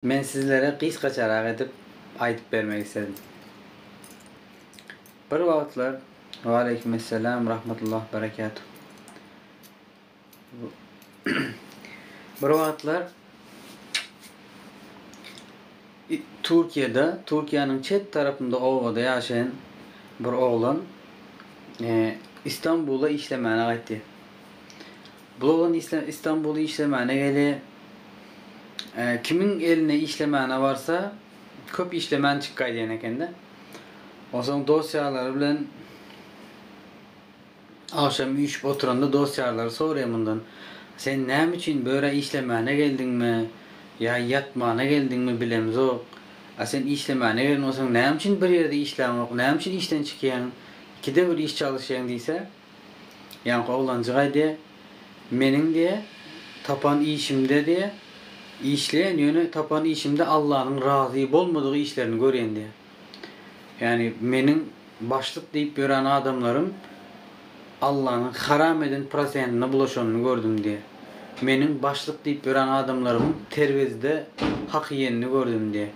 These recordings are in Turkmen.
Men sizlere gysgaçarak edip aýdyp bermek isledim. Bir wagtlar Waleýkimessalam rahmatullah berekatuh Bir wagtlar Türkiýede, Türkiýäniň çet tarapynda obada ýaşaýan bir oglan Istanbula işlemäne gaýtýar. Blogan islem istanbul işlemäne geli kimiň eline işlemäne barsa köp işlemän çykgay diyen ekende onsoň dost ýarlary bilen agşam üýşüp oturanda dost ýarlary soraýa mundan sen näme üçin bu ýere işlemäne geldiňmi ýa ýatmana geldiňmi bilemzok a sen işlemäne gelen bolsaň näme üçin bir ýerde işläňok näme üçin işden çykýaň ikide bir iş çalyşýaň diýse Ýaňky oglanjygaý diýýä, Meniň diýýä, tapan işimde diýýä, işleýän, ýöne tapan işimde Allanyň razy bolmadyk işlerini görýän diýýä. Ýagny meniň başlyk diýip ýören adamlarym Allanyň haram eden prosentine bulaşanyny gördüm diýýä. Meniň başlyk diýip ýören adamlarymyň terwezide hak iýenini gördüm diýýä.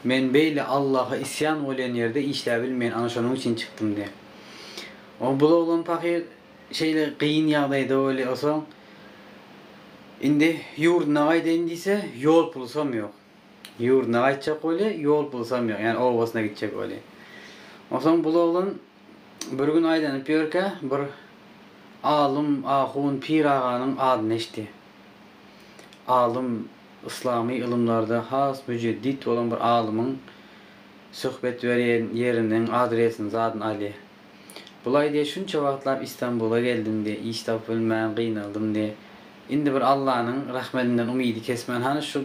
Men beýle Allaha isýan bolýan ýerde işläbilmeýän, ana şonuň üçin çykdym diýýä. O bul oglan pahyr şeýle gyn ýagdaýda weli osaň indi ýurduna gaýdaýyn diýse ýol pulusam ýok. Ýurduna gaýtjak weli ýol pulusam ýok ýani obasyna gitjek weli. Osaň bul oglan bir gün aýlanyp ýörkä bir alym, ahun, pir aganyň adyny eşdi. Alym yslamy ylymlarda has müjeddit bolan bir alymyň söhbet berýän ýeriniň adresini zadyn alýa. Bulaý diýe şunça wagtlap Istanbula geldim diýe iş tapyp bilmän gynaldym diýe indi bir Allanyň rahmedinden umydy kesmän hany şu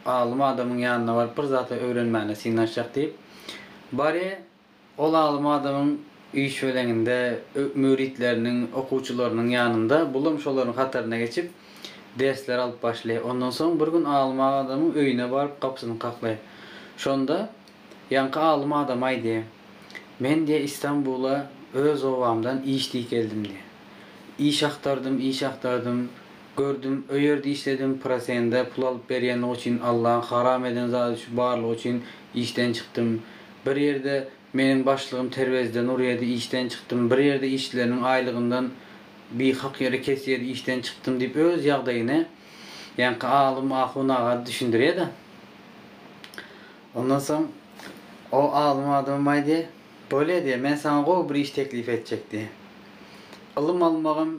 alym adamyň ýanyna baryp bir zat öwrenmäne synanyşjak diýip barýa ol alym adamyň üýşweleňinde müritleriniň okuwçylarynyň ýanynda bulam şolaryň hataryna geçip dersler alyp başlaýa ondan soň bir gün alym adamyň öýüne baryp gapysyny kaklaýa şonda Ýaňky alym adamaý diýe, men diýe Istanbula öz obamdan iş diýip geldim diýe. Iş agtardym, iş agtardym, gördüm, o ýerde işledim, prosende pul alyp berýänligi üçin Allaň haram eden zady şu barlygy üçin işden çykdym. Bir ýerde meniň başlygym terwezden urýady, işden çykdym, bir ýerde işçileriniň aýlygyndan bi hak ýere kesýedi, işden çykdym diýip öz ýagdaýyny ýaňky alym ahun aga düşündirýe-de. Ondan soň o alym adamym aýdy, Bolýa diýýär, men saňa gowy bir iş teklip etjek diýýär. Ylym almagam,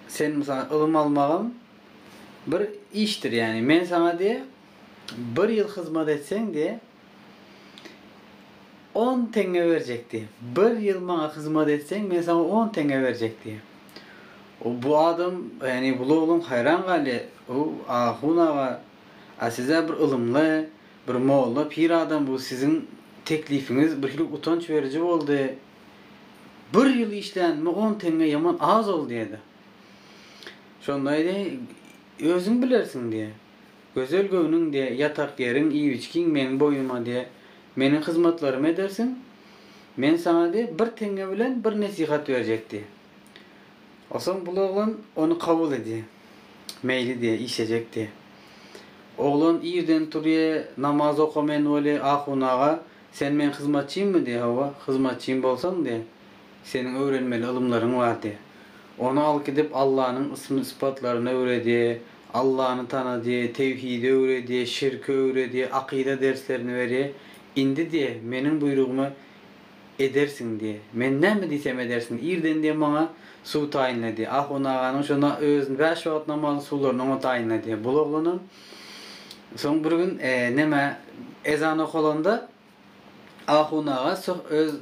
sen mysal, ylym almagam bir işdir, ýagny men saňa diýýär, bir ýyl hyzmat etseň diýýär, on teňňe berjek diýýär. Bir ýyl maňa hyzmat etseň, men saňa on teňňe berjek diýýär. O bu adam, ýagny bu lowlaň haýran galýar, Ow, ahun aga, a siz-ä bir ylymly, Bir molla pir adam bu siziň teklifiňiz birhili utanç beriji boldy. Bir ýyl işlänime on teňňe ýaman az ol diýdi. Şonda aýdy, Özüň bilersiň diýdi. Gözel göwnüň diýdi, ýatak ýeriň, iýip-içgiň meň boýnuma diýdi. Meniň hyzmatlarymy edersiň. Men saňa diýdi, bir teňňe bilen bir nesihat berjek diýdi. Osoň bul oglan ony kabul edýä. Meýli diýä, işlejek diýä. Oglan irden turýa, namaz okamaýan weli, ahun aga, sen meň hyzmatçymmy diýä, hawa, hyzmatçym bolsaň diýä, seniň öwrenmeli ylymlaryň bar diýä. Ony al gidip Allanyň ysm-yspatlaryny öwredýä, Allany tanadýa, tewhidi öwredýä, şirki öwredýä, akyda derslerini berýä. Indi diýä, meniň buýrugyma edersiň diýe. Men näme diýsem edersiň, irden diýe maňa suw taýynla diýe. Ahun aganyň şo na, özüni bäş wagt namazyň suwlaryny oňa taýynla diýe. Bul oglanam soň bir gün näme, ezan okalanda ahun aga soh, öz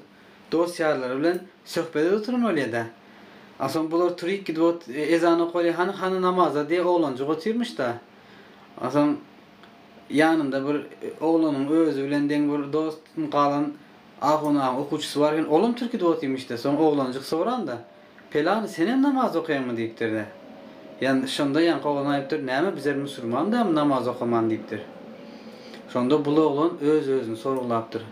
dost-ýarlary bilen söhbet edip oturmalyýa-da. A soň bular turyk gidip ot, ezan okalyýa, hany, hany namaza diýe oglanjyk otyrmyş-da. A soň ýanynda bir oglanyň özi bilen deň bir dost galan, Ahunyň okuwçysy bar eken, olam türki dostymyş-da. Soň oglanjyk soranda, Pelany, senem namaz okaýaňmy? diýipdir-de. Ýan, şonda ýaňky oglan aýdypdyr, Näme, bizler musurman dälmi, namaz okaman? diýipdir. Şonda bul oglan öz-özüni sorgulapdyr,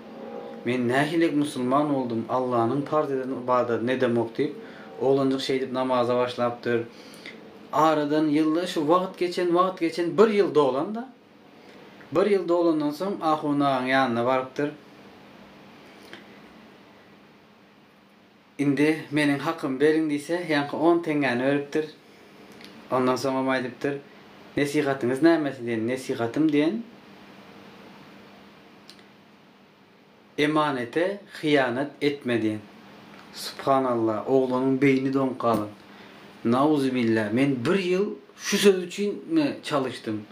Men nähililik musulman boldum, Allanyň parz eden ybadatyny edemok diýip, oglanjyk şeýdip namaza başlapdyr. Aradan ýyllar, şu wagt geçen, wagt geçen, bir ýyl dolan-da. Bir ýyl dolandan soň ahun agaň ýanyna barypdyr. Indi meniň hakymy beriň diýse, ýaňky on teňňäni beripdir. Ondan soňam aýdypdyr, Nesihatyňyz nämesi diýen, Nesihatym diýen, Emanete hyýanat etme diýen. Subhanalla oglunyň beýni doňup galan. Nauzubilla men bir ýyl şu söz üçin mi çalyşdym.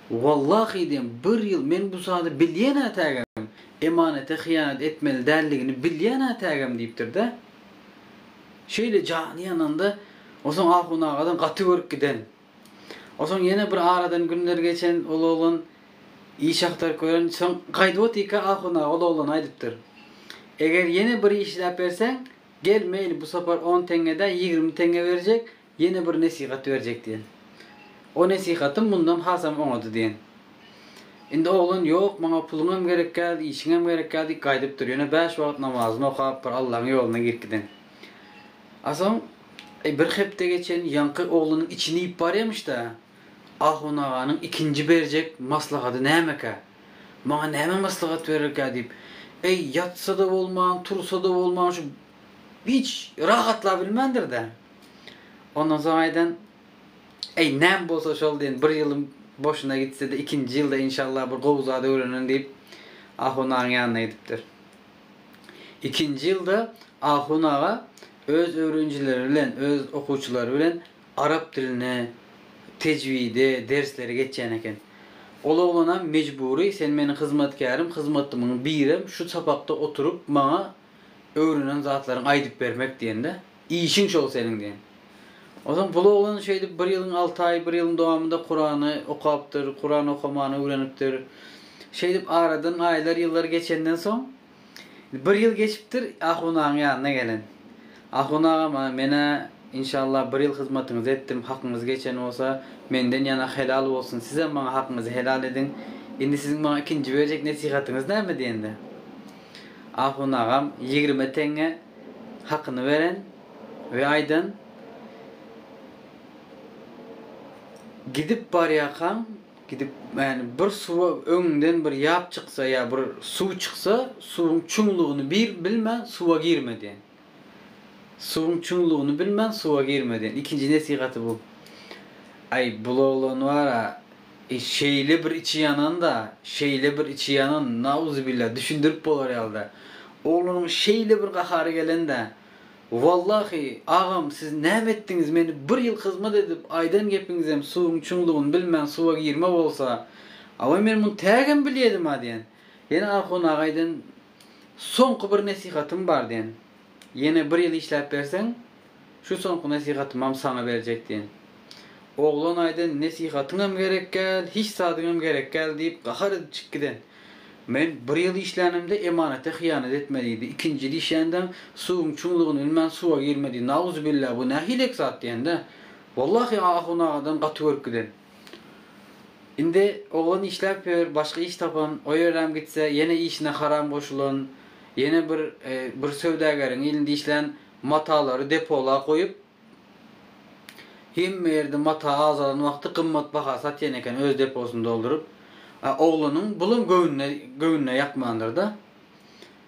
Wallahi diýen bir ýyl men bu sady bilýänä tägem emanete hyýanat etmeli däldigini bilýänä tägem diýipdirde. Şeýle jany ýananda osaň ahun agadan gaty görüp giden. Onsoň ýene bir aradan günler geçen ol oglan iş agtaryp gören, soň gaýdyp otyrka ahun aga ol oglana aýdypdyr. Eger ýene bir iş iläp berseň, gel meýli bu sapar on teňňe-dä ýigrimi teňňe berjek, ýene bir nesihat berjek diýen. O nesihatym mundan hasam oňady diýen. Indi oglan ýok maňa puluňam gerekkä, işiňem gerekkä diýip gaýdypdyr, ýöne bäş wagt namazyny okap bir Allaň ýoluna girip giden. A soň Eý, bir hepde geçen ýaňky oglunyň içini iýip barýamyş-da, ahun aganyň ikinji berjek maslahady nämekä? Maňa näme maslahat bererkä diýip, eý, ýatsa-da bolman, tursa-da bolman, şu hiç rahatlabilmändir-dä. Ondan soň aýdan, Eý, näm bolsa şol diýen, bir ýylym boşuna gitse-de, ikinji ýylda, inşallah, bir gowy zat öwrenen diýip, ahun agaň ýanyna gidipdir. Ikinji ýylda Ahun aga öz öwrenjileri bilen, öz okuwçylary bilen arap diline, tejwide, dersleri geçýän eken. Ol oglanam mejbury, sen meniň hyzmatkärim, hyzmatlymyň birem, şu sapakda oturyp, maňa öwrenen zatlaryňy aýdyp bermek diýende, Işiň şol seniň diýen. Onsoň pul oglan şeýdip bir ýylyň alty aýy, bir ýylyň dowamynda Kurany okapdyr, Kuran okamany öwrenipdir. Şeýdip aradan aýlar, ýyllar geçenden soň, bir ýyl geçipdir, ahun agaň ýanyna gelen. Ahun agam, men-ä, inşallah, bir ýyl hyzmatyňyzy etdim, hakyňyz geçen bolsa, menden ýana helal bolsun, sizem maňa hakyňyzy helal ediň. Indi siziň maňa ikinji berjek nesihatyňyz näme diýende. Ahun agam, ýigrimi teňňe. hakyny beren we aýdan, Gidip barýarkaň, gidip, ýagny bir suwa öňüňden bir ýap çyksa ýa bir suw çyksa, suwuň çuňlugyny bir bilmän suwa girme diýen. Suwuň çuňlugyny bilmän suwa girme diýen. Ikinji nesihaty bu. Aý, bul oglan bar-a, E şeýle bir içi ýananda, şeýle bir içi ýanan, nauzubillah, düşündirip bolar ýalyda. Oglunyň şeýle bir gahary gelende, Wallahy, agam, siz näme etdiňiz, meni bir ýyl hyzmat edip, aýdan gepiňizem suwuň çuňlugyny bilmän suwa girme bolsa, awa men muny tägem bilýedim-a diýen. Ýene Ahun agaýdan soňky bir nesihatym bar diýen. Ýene bir ýyl işläp berseň, şu soňky nesihatymam saňa berjek diýen. Oglan aýdan nesihatyňam gerekgäl, hiç zadyňam gerekgäl diýip gahar edip çykyp giden. Men bir ýyl işlänimde emanata hyýanat etme diýdi, ikinji ýyl işländeň suwuň çuňlugyny bilmän suwa girme diýdi, nauzubilla bu nähilek zat diýende, wallahy Ahun agadan gaty görüp giden. Indi oglan işläp ýör, başga iş tapan, o ýeräm gitse, ýene işine haram goşulan, ýene bir bir söwdageriň ilinde işlän, matalary depola goýup, hemme ýerde mata azalan wagty gymmat baha satýan eken, öz deposyny dolduryp. A oglanyň bulam göwnüne göwnüne ýakmandyr-da.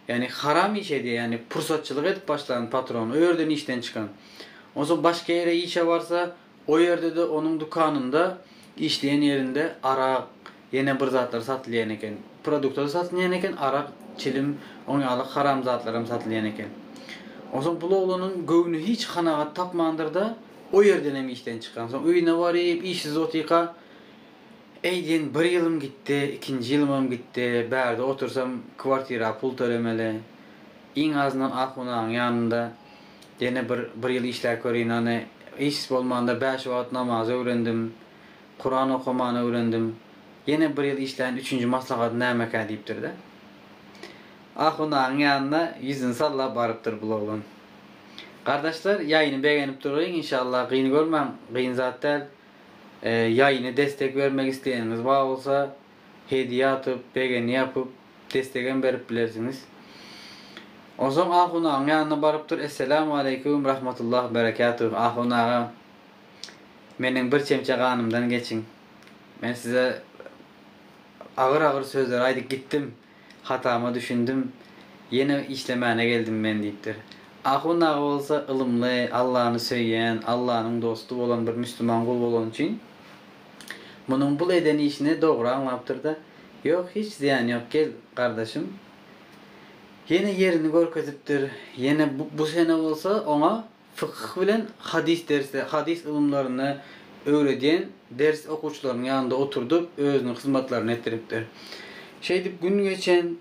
Ýagny haram iş edýär, ýagny pursatçylyk edip başlan patron, o ýerden işden çykan. Onsoň başga ýere işe barsa, O ýerde-de onuň dükanynda, işleýän ýerinde arak, ýene bir zatlar satylýan eken. Produkta-da satylýan eken, arak, çilim, oň ýaly haram zatlaram satylýan eken. Onsoň bul oglanyň göwni hiç kanagat tapmandyr-da, o ýerdenem işden çykan. Soň öýüne baryp, işsiz otyka, Äý diýen, bir ýylym gitdi, ikinji ýylymam gitdi, bärde otursam, kwartira pul tölemeli. Iň azyndan ahunanyň ýanynda. Ýene bir bir ýyl işläp körin hany. Iş bolmanda bäş wagt namazy öwrendim. Kuran okamany öwrendim. Ýene bir ýyl işläýin üçünji maslahat nämekä diýipdir-de. Ahundagyň ýanyna ýüzüni sallap barypdyr bul oglan. Gardaşlar ýaýyny begenip durgyň inşallah gyn görmäň gyn zat däl. Ýaýyna destek bermek isleýeniňiz bar bolsa hediýe atyp begeni ýapyp. Destegem berip bilersiňiz. Onsoň ahunagaň ýanyna barypdyr, Esselämu aleýkum rahmatullah berekatuh, ahun aga, meniň bir çemçe ganymdan geçiň. Men size agyr-agyr sözler aýdyp gitdim, hatama düşündim, ýene işlemäne geldim men diýipdir. Ahun aga bolsa ylymly, Allany söýýän, Allanyň dosty bolan bir müslüman gul bolany üçin. Munuň bul eden işini dogry aňlapdyr-da, Ýok, hiç zyýany ýok, gel, gardaşym. Ýene ýerini görkezipdir. Ýene bu sene bolsa oňa fykyh bilen hadys dersi, hadys ylymlaryny öwredýän ders okuwçylarynyň ýanynda oturdyp, özüniň hyzmatlaryny etdiripdir. Şeýdip gün geçen,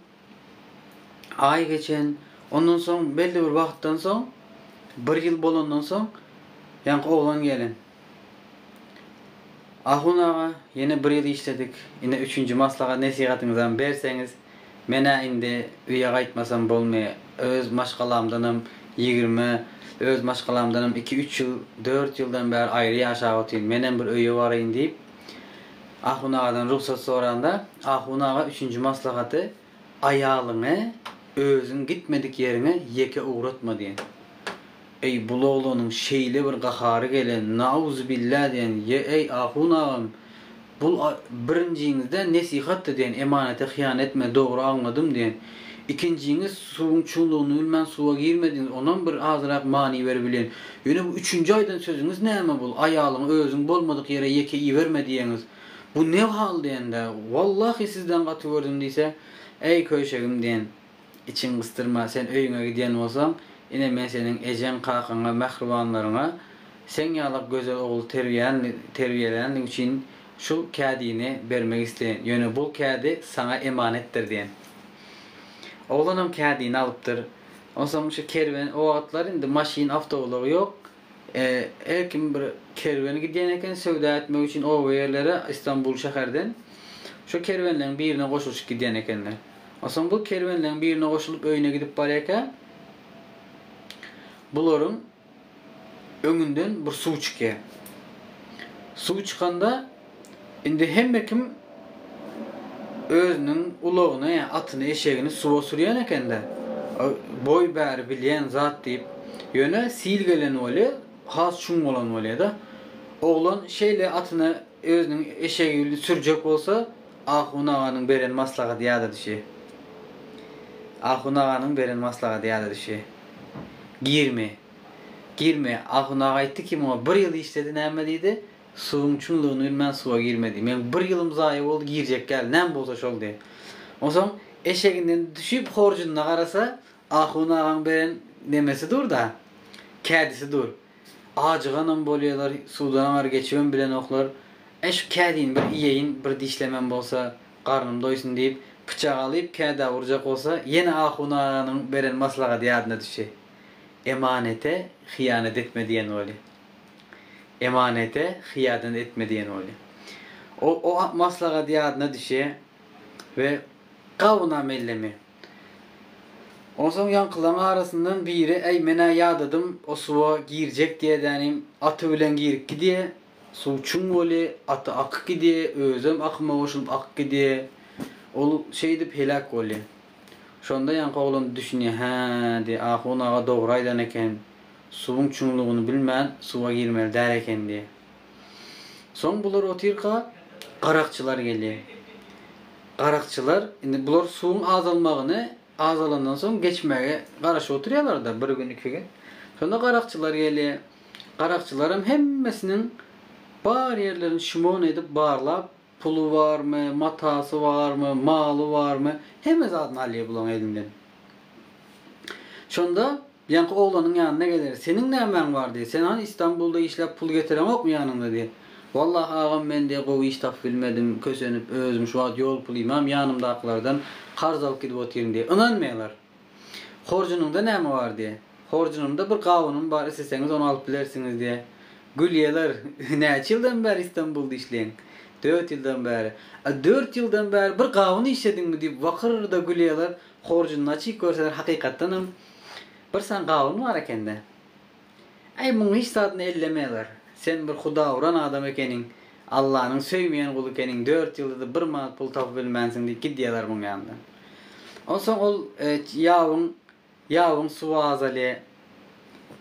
Aý geçen, ondan soň belli bir wagtdan soň, bir ýyl bolandan soň, ýaňky oglan gelen. Ahun aga, ýene bir ýyl işledik, ine üçünji maslahat-nesihatyňyzam berseňiz, men-ä indi öýe gaýtmasam bolmy, öz maşgalamdanam ýigrimi, öz maşgalamdanam iki-üç ýyl, dört ýyldan bäri aýry ýaşap otyryn, menem bir öýe baraýyn diýip, Ahun agadan rugsat soranda, Ahun aga üçünji maslahaty, Aýalyňy özüň gitmedik ýeriňe ýeke ugratma diýen. Eý, bul oglanyň şeýle bir gahary gelen, Nauzubilla diýen, Ýe-eý, Ahun agam, bul birinjiňizden nesihatdy diýen, emanete hyýan etme, dogry aňladym diýen. Ikinjiňiz suwuň çuňlugyny bilmän suwa girmediňiz onam bir azyrak many berip bileýin. Ýöne bu üçünji aýdan sözüňiz näme bul aýalyňy özüň bolmadyk ýere ýeke iberme diýeňiz. Bu ne hal diýende Wallahy sizden gaty gördüm diýse Äý köýşegim diýen içiň gysdyrma sen öýüňe gidýän bolsaň ine men seniň ejeň kakaňa mähribanlaryňa seň ýalak gözel ogly terbiýelänligiň üçin Şu kädini bermek isleýän, ýöne bul kädi saňa emanetdir diýen. Oglanam kädini alypdyr. Onsoň şu kerwen, o wagtlar indi maşyn, awtoulag ýok. Her kim bir kerwen gidýän eken söwda etmek üçin oba ýerlere, Istanbul şäherden. Şu kerwenleň birine goşulyşyp gidýän ekenler. Onsoň bu kerwenleň birine goşulyp öýüne gidip barýarka, bularyň. Öňünden bir suw çykýar. Suw çykanda indi hemme kim özüniň ulagyny, atyny, eşegini suwa sürýän eken-de. Boý bäri bilýän zat diýip. Ýöne sil gelen bolýar, has çuň bolan bolýar-da. Oglan şeýle atyna Özüniň eşegini sürjek bolsa, Ahun aganyň beren maslahady ýada düşe. Ahun aganyň beren maslahady ýada düşe. Girme. Girme. Ahun aga aýtdy kim oňa bir ýyl işledi näme diýdi, suwuň çuňlugyny bilmän suwa girme diý. Meň bir ýylym zaýa boldy girjek ýaly näme bolsa şol diý. Onsoň eşeginden düşüp horjunyna garasa, Ahun agaň beren nemesi dur-da, kädisi dur. Ajyganam bolýalar, suwdan aňar geçibem bilenoklar. Äý, şu kädini bir iýeýin, bir dişlemem bolsa, garnym doýsun diýip, pyçak alyp, kädä urjak bolsa, ýene Ahun aganyň beren maslahady ýadyna düşdi. Emanete hyýanat etme diýen boli. Emanete hyýadan etme diýen boli. O, o maslahat ýadyna düşe we gawuna mellemi. Onsoň ýaňkylaryň arasyndan biri Äý, men-ä ýadadym, o suwa girjek diýedänim, aty bilen girip gidýä, suw çuň weli, aty akyp gidýä, özem akyma goşulyp akyp gidýä, ol şeýdip heläk bolýa. Şonda ýaňky oglan düşünýä, Hä, diýýä, ahun aga dogry aýdan eken, suwuň çuňlugyny bilmän, suwa girmeli däl eken diýýä. Soň bular otyrka, garakçylar gelýär. Garakçylar, indi bular suwuň azalmagyny, azalandan soň geçmäge garaşyp oturýarlar-da, bir gün, iki gün. Şonda garakçylar gelýär. Garakçylaram hemmesiniň bar ýerlerini şmon edip barlap, Puly barmy, matasy barmy, maly barmy, hemme zadyny alýar bulaň elinden. Şonda ýaňky oglanyň ýanyna geler, seniň nämäň bar diýer, sen hany Istanbulda işläp pul getireňokmy ýanyňda diýer. Wallahy agam men diýer gowy iş tapyp bilmedim, kösenip özüm şu wagt ýol pulymam ýanymdakylardan karz alyp gidip otyryn diýer. Ynanmaýarlar. Horjunyňda näme bar? diýýär. Horjunymda bir gawunym bar, isleseňiz ony alyp bilersiňiz diýýär. Gül ýalar, Näçe ýyldan bäri Istanbulda işleýäň? Dört ýyldan bäri. A dört ýyldan bäri bir gawun işlediňmi? diýip wykyrda gülýärler. Horjunyny açyp görseler, hakykatdanam, bir san gawun bar eken-dä. Äý, muň hiç zadyny elleme gar. Sen bir hudaguran adam ekeniň, Allanyň söýmeýän guly ekeniň, dört ýyldyzy bir manat pul tapyp bilmänsiň diýip gidýärler muň ýanyndan. Onsoň ol ýabyň, ýabyň suwy azaly,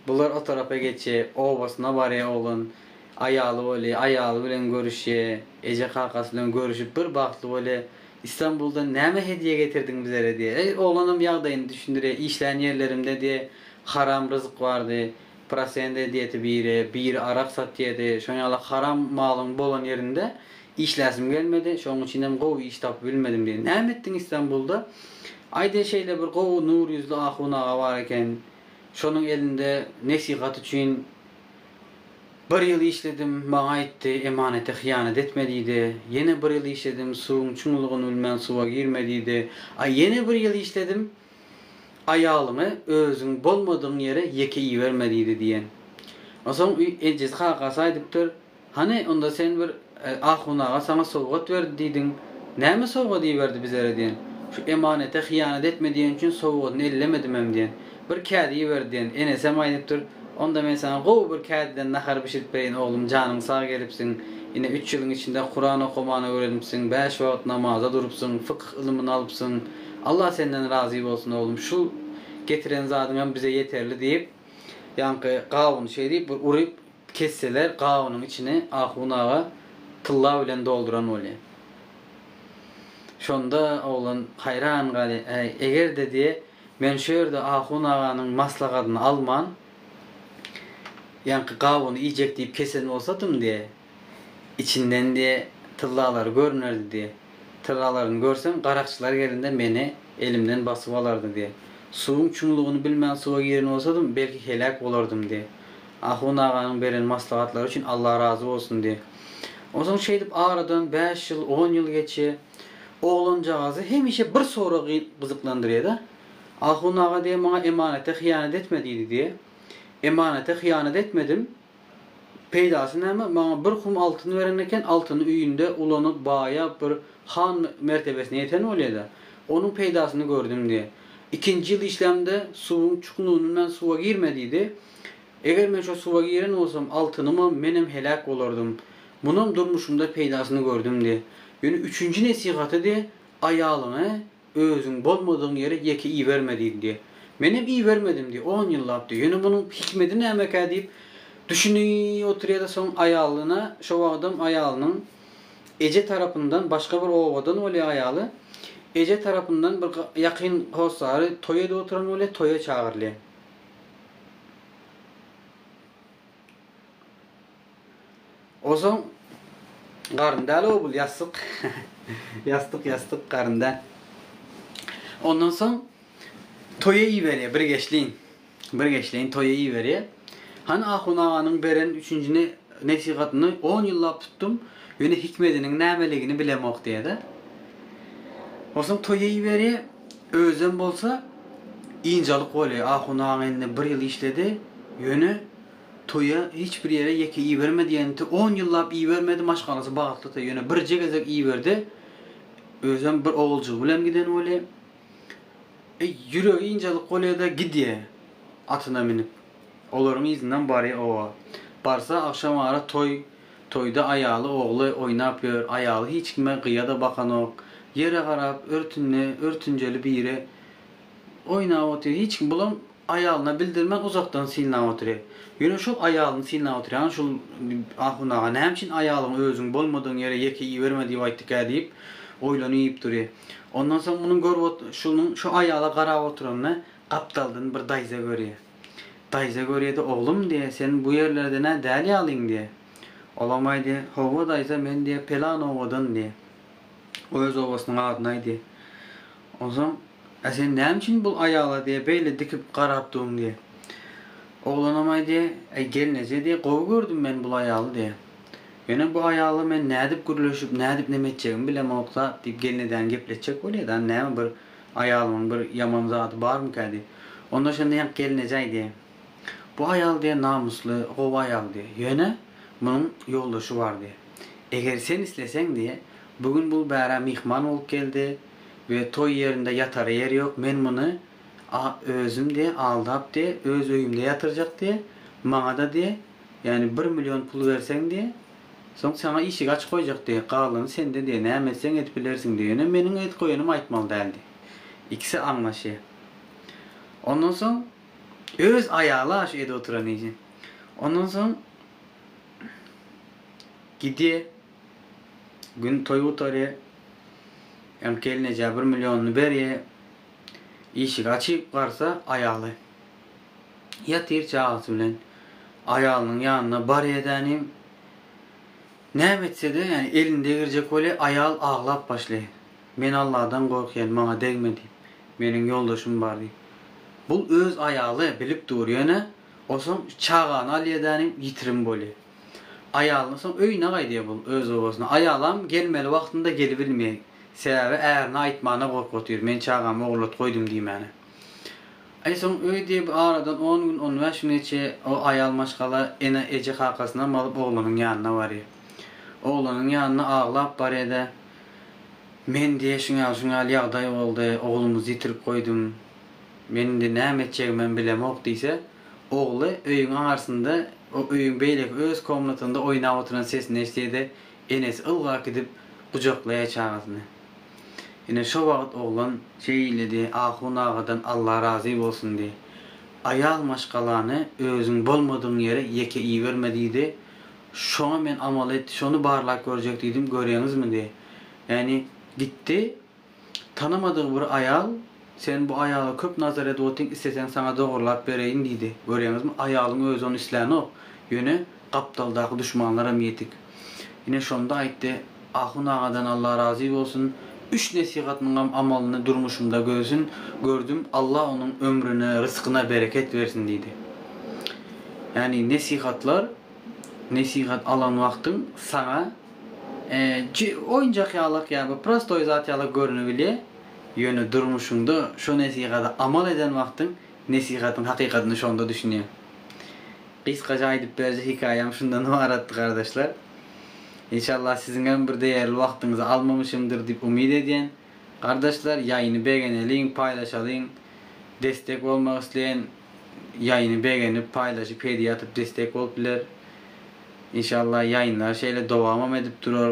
bular o tarapa geçi, obasyna barýa oglan, aýaly boly, aýaly bilen görüşýä, eje-kakasy bilen görüşip bir bagtly boly, Istanbuldan näme hedýe getirdiň bizere diýe. Eý, oglanam ýagdaýyny düşündirýä, işlän ýerlerimde diýe, haram ryzyk bardy. Prosent edýedi biri, biri arak satýady. Şoň ýaly haram malyň bolan ýerinde işläsim gelmedi. Şoň üçinem gowy iş tapyp bilmedim diýdi. Näme etdiň Istanbulda? Aýde şeýle bir gowy nur ýüzli ahun aga bar eken. Şonuň elinde nesihat üçin Bir ýyl işledim, maňa aýtdy, emanete hyýanat etme diýdi. Ýene bir ýyl işledim, suwuň çuňlugyny bilmän suwa girme diýdi. A ýene bir ýyl işledim, aýalyňy özüň bolmadygyň ýere ýeke iberme diýdi diýen. Onsoň ejesi kakasy aýdypdyr. Hany, onda sen bir ahun aga saňa sowgat berdi diýdiň. Näme sowgady iberdi bizlere diýen. Şu emanete hyýanat etme diýen üçin sowgadyny ellemedimem diýen. Bir kädi iberdi diýen. Enesem aýdypdyr. Onda men saňa gowy bir kädiden nahar bişirip bereýin oglum, janyň sag gelipsiň. Ine, üç ýylyň içinde Kuran okamany öwrenipsiň, bäş wagt namaza durupsyň, fykyh ylmyny alypsyň. Allah senden razy bolsun oglum, şu getiren zadyňam bize ýeterli diýip, ýaňky gawuny şeýdip bir uryp, Kesseler gabynyň içini ahun aga tylla bilen dolduran bolýar. Şonda oglan haýran galýar, Äý, eger-de, diýýär, men şu ýerde ahun aganyň maslahatyny alman, ýaňky gabyny iýjek diýip kesen bolsadym, diýýär, içinden, diýýär, tyllalary görnerdi, diýýär. Tyllalaryny görsem, garakçylar gelende meni elimden basyp alardy, diýýär. Suwuň çuňlugyny bilmän suwa giren bolsadym, belki heläk bolardym, diýýär. Ahun aganyň beren maslahatlary üçin Allah razy bolsun diý. Onsoň şeýdip aradan bäş ýyl, on ýyl geçýä. Oglanjagazy hemişe bir sorag gyzyklandyrýa-da. Ahun aga diýýä maňa emanete hyýanat etme diýdi diýýä. Emanete hyýanat etmedim. Peýdasy näme? Maňa bir hum altyn beren eken, altyny öýünde ulanyp, baýap bir han mertebesine ýeten bolýa-da. Onuň peýdasyny gördüm diýýä. Ikinji ýyl işlämde suwuň çuknuny bilen suwa girme diýdi. Eger men şo suwa giren bolsam, altynymam, menem heläk bolardym. Munam durmuşymda peýdasyny gördüm-de. Ýöne üçünji nesihatydy, Aýalyňy özüň bolmadygyň ýere ýeke iberme diýdidi. Menem ibermedimdi, on ýyllapdy. Ýöne munuň hikmedi nämekä diýip, düşüni oturýada soň aýalyna, şo wagtam aýalynyň eje tarapyndan, başga bir obadan bolýa aýaly, eje tarapyndan bir ýakyn hossary toý edip oturan bolýa, toýa çagyrylýa. Ozaň garyn däl obul ýassyk ýassyk ýassyk garyn däl. Ondan soň toýa iberýär bir geçliň. Bir geçliň toýa iberýär. Hany ahun aganyň beren üçünjini nesihatyny on ýyllap tutdum. Ýöne hikmediniň nämeligini bilemok diýýär-de. Ozaň toýa iberýär. Özem bolsa ynjalyk bolýa. Ahun aga indi bir ýyl işledi, ýöne toýa hiç bir ýere ýeke ibermedi ýenti, on ýyllap ibermedi, maşgalasy bagtlydy, ýöne birje gezek iberdi, özem bir oguljygy bilen giden bolýa. E, ýüregi ynjalyk bolýa-da gidýä atyna münüp. Olaryň yzyndan barýa oba. Barsa agşamara toý Toýda aýaly ogly oýnap ýör, aýaly hiç kime gyýa-da bakanok, ýere garap, örtünde, örtünjeli biri oýnap otyr, hiç kim bulam aýalyna bildirmän uzakdan synlap otyr. Ýöne şol aýalyny synlap otyrýan şul ahun aga näme üçin aýalyňy özüň bolmadygyň ýere ýeke iberme diýip aýtdykä diýip oýlanyp dur. Ondan soň munuň görüp şunuň şu aýala garap oturanyny gapdaldan bir daýza görýär. Daýza görýedi, Oglum, diýýä, sen bu ýerlerden-ä däl ýalyň, diýýä. Olam aýdy, Howwa, daýza, men, diýýä, pelan obadan, diýýä. O öz obasynyň adyny aýdy. Onsoň, Ä sen näme üçin bul aýala, diýýä, beýle dikip garap duň, diýýä. Oglanam aýdy, Äý, gelneje, diýýä, gowy gördüm men bul aýaly, diýýä. Ýöne bu aýala men nädip gürleşip, nädip neme etjegimi bilemok zat, diýip, gelnejäni gepletjek bolýa-da, näme bir. Aýalyňyň bir ýaman zady barmyka diýip. Onda şonda ýaňky gelin eje aýdýar. Bu aýal diýýär namysly, gowy aýal diýýär. Ýöne, munuň ýoldaşy bar diýýär. Eger sen isleseň diýýär, bu gün bul bärä myhman bolup geldi we toý ýerinde ýatara ýeri ýok, men muny a özüm diýýär, aldap diýýär, öz öýümde ýatyrjak diýýär, maňa-da diýýär, ýagny bir million pul berseň diýýär, Soň saňa işigi açyp goýjak diýýä, galany sende diýýä, näme etseň edip bilersiň diýýä. Ýöne meniň edip goýanym aýtmaly däl diýýä. Ikisi aňlaşýa. Ondan soň öz aýaly-a şu edip oturan işi. Ondan soň gidýä, gün toý gutarýa. Öň gelnejä bir millionyny berýä. Işigi açyp garsa, aýaly. Ýatyr çagasy bilen aýalynyň ýanyna barýa-da nim, näme etse-de, ýagny elini degirjek bolýa, aýal aglap başlaýa. Men Alladan gorkýan, maňa degme diýip. Meniň ýoldaşym bar diýip. Bu öz aýaly, bilip dur, ýöne o soň çagany alýa-da nim, ýitirim bolýa. Aýalyna soň öýüne gaýdýa bul, öz obasyna. Aýalam gelmeli wagtynda gelibilmeýä. Sebäbi ärine aýtmana gorkup otyr, men çagamy ogurlat goýdum diýmäne. Aý soň öý diýip aradan on gün, on bäş gün geçýä. O aýal maşgala ene, eje kakasyna malyp oglanyň ýanyna barýa. Oglanyň ýanyna aglap barýa-da, Men diýýä şuň ýaly, şuň ýaly ýagdaý boldy, oglumyzy ýitirip goýdum. Men indi näme etjegimem bilemok diýse, ogly öýüň aňarsynda, o öýüň beýleki öz komnatynda oýnap oturan sesini eşdýä-de, enesi ylgap gidip gujaklaýa çagasyny. Ine, şo wagt oglan şeýledi, Ahun agadan Alla razy bolsun diý. Aýal maşgalany özüň bolmadygyň ýere ýeke iberme diýdi. Şoňa men amal et, şony barlap görjek diýdim, göreňizmi diý. Ýagny, gitdi, tanamadygy bir aýal, Sen bu aýala köp nazar edip otyň, isleseň saňa dogurlap bereýin diýdi. Göreňizmi, aýalyň özi ony islänik, ýöne, Gapdaldaky duşmanlaram ýetik. Ine şonda aýtdy, Ahun agadan Alla razy bolsun, üç nesihatyňam amalyny durmuşymda görsün, gördüm, Alla onuň ömrüne, ryskyna bereket bersin diýdi. Ýagny nesihatlar, nesihat alan wagtyň saňa oýunjak ýalak ýa bir prostoý zat ýalak görünebilýär, ýöne durmuşyňda şo nesihada amal eden wagtyň, Nesihatyň hakykatyna şonda düşünýän. Gysgaça aýdyp berje hikaýam şundan ybaratdy gardaşlar. Enşallah siziňem bir deýerli wagtyňyzy almamışymdyr diýip umyt edýän. Gardaşlar ýaýyny begeneliň paýlaşalyň destek bolmak isleýän ýaýyny begenip paýlaşyp hediýe atyp destek bolup biler. Enşallah ýaýynlar şeýle dowamam edip durar.